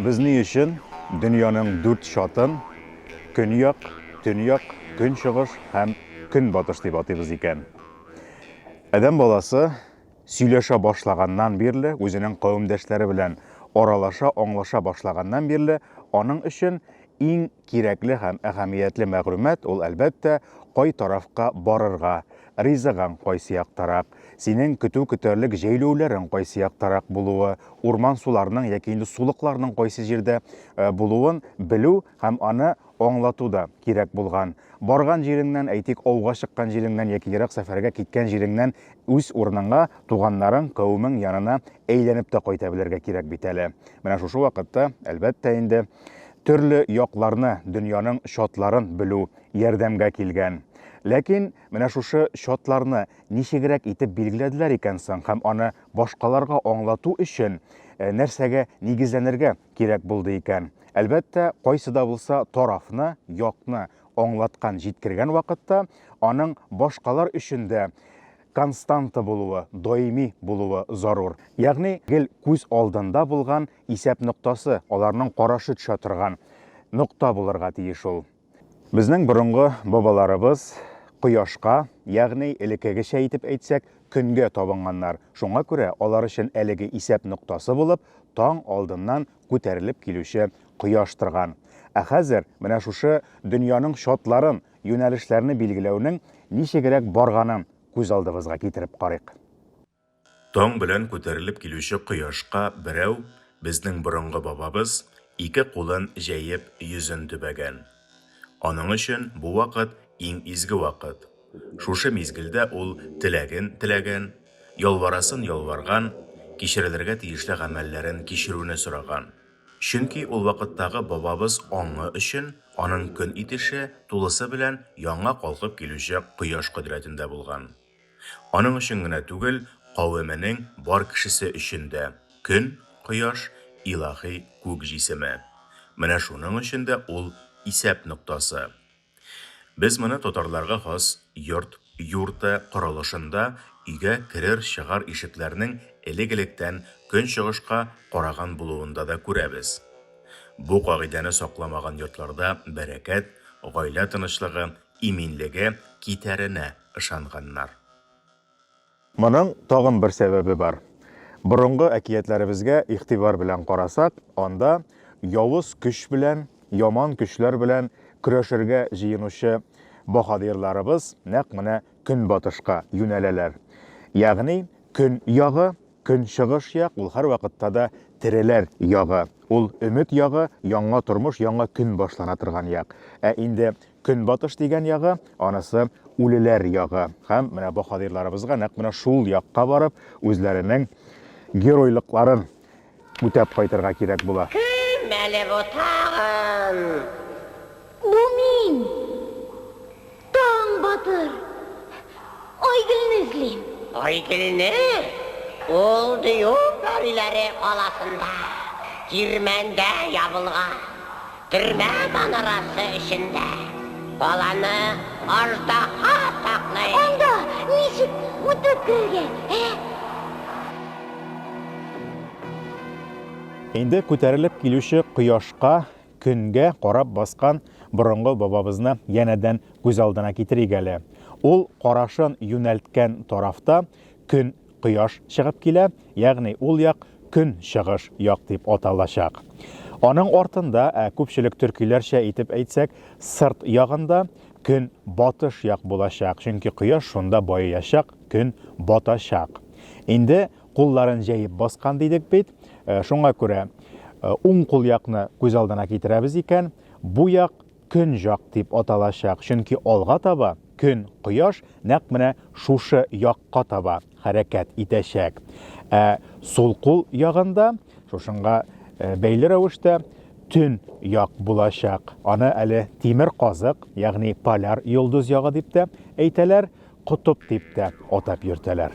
Без ни өчен дөньяның дүрт чатын Көньяк, Төньяк, Көнчыгыш һәм Көнбатыш дип атыйбыз икән? Адәм баласы сөйләшә башлаганнан бирле, үзенең кавемдәшләре белән аралаша, аңлаша башлаганнан бирле, аның өчен Иң кирәкле һәм әһәмиятле мәгълүмат ул, әлбәттә, кай тарафка барырга, ризыгаң кайсы яктарак, синең көтү көтәрлек җәйләүләрең кайсы яктарак булуы, урман-суларның яки инде сулыкларның кайсы җирдә булуын белү һәм аны аңлату да кирәк булган. Барган җиреңнән, әйтик, ауга чыккан җиреңнән яки ерак сәфәргә киткән җиреңнән үз урыныңа, туганнарың, кавемең янына әйләнеп тә кайта белергә кирәк бит әле. Менә шушы вакытта, әлбәттә инде, төрле якларны, дөньяның чатларын белү ярдәмгә килгән. Ләкин менә шушы чатларны ничегрәк итеп билгеләделәр икән соң һәм аны башкаларга аңлату өчен нәрсәгә нигезләнергә кирәк булды икән? Әлбәттә, кайсы да булса тарафны, якны аңлаткан, җиткергән вакытта аның башкалар өчен дә константа булуы, даими булуы зарур. Ягъни, гел күз алдында булган исәп ноктасы, аларның карашы төшә торган нокта булырга тиеш ул. Безнең борынгы бабаларыбыз кояшка, ягъни, элеккегечә итеп әйтсәк, көнгә табынганнар, шуңа күрә алар өчен әлеге исәп ноктасы булып таң алдыннан күтәрелеп килүче кояш торган. Ә хәзер менә шушы дөньяның чатларын, юнәлешләрне билгеләүнең ничегрәк барганын күз алдыбызга китереп карыйк. Таң белән күтәрелеп килүче кояшка берәү, безнең борынгы бабабыз, ике кулын җәеп, йөзен төбәгән. Аның өчен бу вакыт, иң изге вакыт. Шушы мизгелдә ул теләген теләгән, ялварасын ялварган, кичерелергә тиешле гамәлләрен кичерүне сораган. Чөнки ул вакыттагы бабабыз аңы өчен аның көн итеше тулысы белән яңа калкып килүче кояш кодрәтендә булган. Аның өчен генә түгел, кавеменең бар кешесе өчен дә көн, кояш, илаһи күк җисеме. Менә шуның өчен дә ул исәп ноктасы. Без моны татарларга хас йорт, юрты, корылышында өйгә керер-чыгар ишекләрнең элек-электән көнчыгышка караган булуында да күрәбез. Бу кагыйдәне сакламаган йортларда бәрәкәт, гаилә тынычлыгы, иминлеге китәренә ышанганнар. Моның тагын бер сәбәбе бар. Борынгы әкиятләребезгә игътибар белән карасак, анда явыз көч белән, яман көчләр белән көрәшергә җыенучы баһадирларыбыз нәкъ менә көнбатышка юнәләләр. Ягъни, көньягы Көнчыгыш як, ул һәрвакытта да тереләр ягы. Ул, өмет ягы, яңа тормыш, яңа көн башлана торган як. Ә инде Көнбатыш дигән ягы, анысы үлеләр ягы. Һәм менә баһадирларыбызга нәкъ менә шул якка барып, үзләренең геройлыкларын үтәп кайтырга кирәк була. Кем әле бу тагын? Бу мин! Таң батыр! Айгөлне эзлим! Айгөлне? Ул Дию пәриләре каласында, кирмәндә ябылган. Төрмә манарасы эчендә. Баланы аждаһа саклый. Анда ничек үтеп керергә, ә? Инде күтәрелеп килүче кояшка Көнгә карап баскан борынгы бабабызны янәдән күз алдына китерик әле. Ул карашын юнәлткән тарафта көн, кояш чыгып килә, ягъни ул як көнчыгыш як дип аталачак. Аның артында, ә күпчелек төркиләрчә итеп әйтсәк, сырт ягында көн батыш як булачак, чөнки кояш шунда баеячак, көн батачак. Инде кулларын җәеп баскан дидек бит. Э, шуңа күрә э, уң кул якны күз алдына китерәбез икән, бу як көн жак дип аталачак, чөнки алга таба көн, кояш нәкъ менә шушы якка таба хәрәкәт итәчәк. Ә сул кул ягында шушыңга э, бәйле рәвештә төн як булачак. Аны әле тимер казык, ягъни поляр йолдыз ягы дип тә әйтәләр. Котып дип тә атап йөртәләр.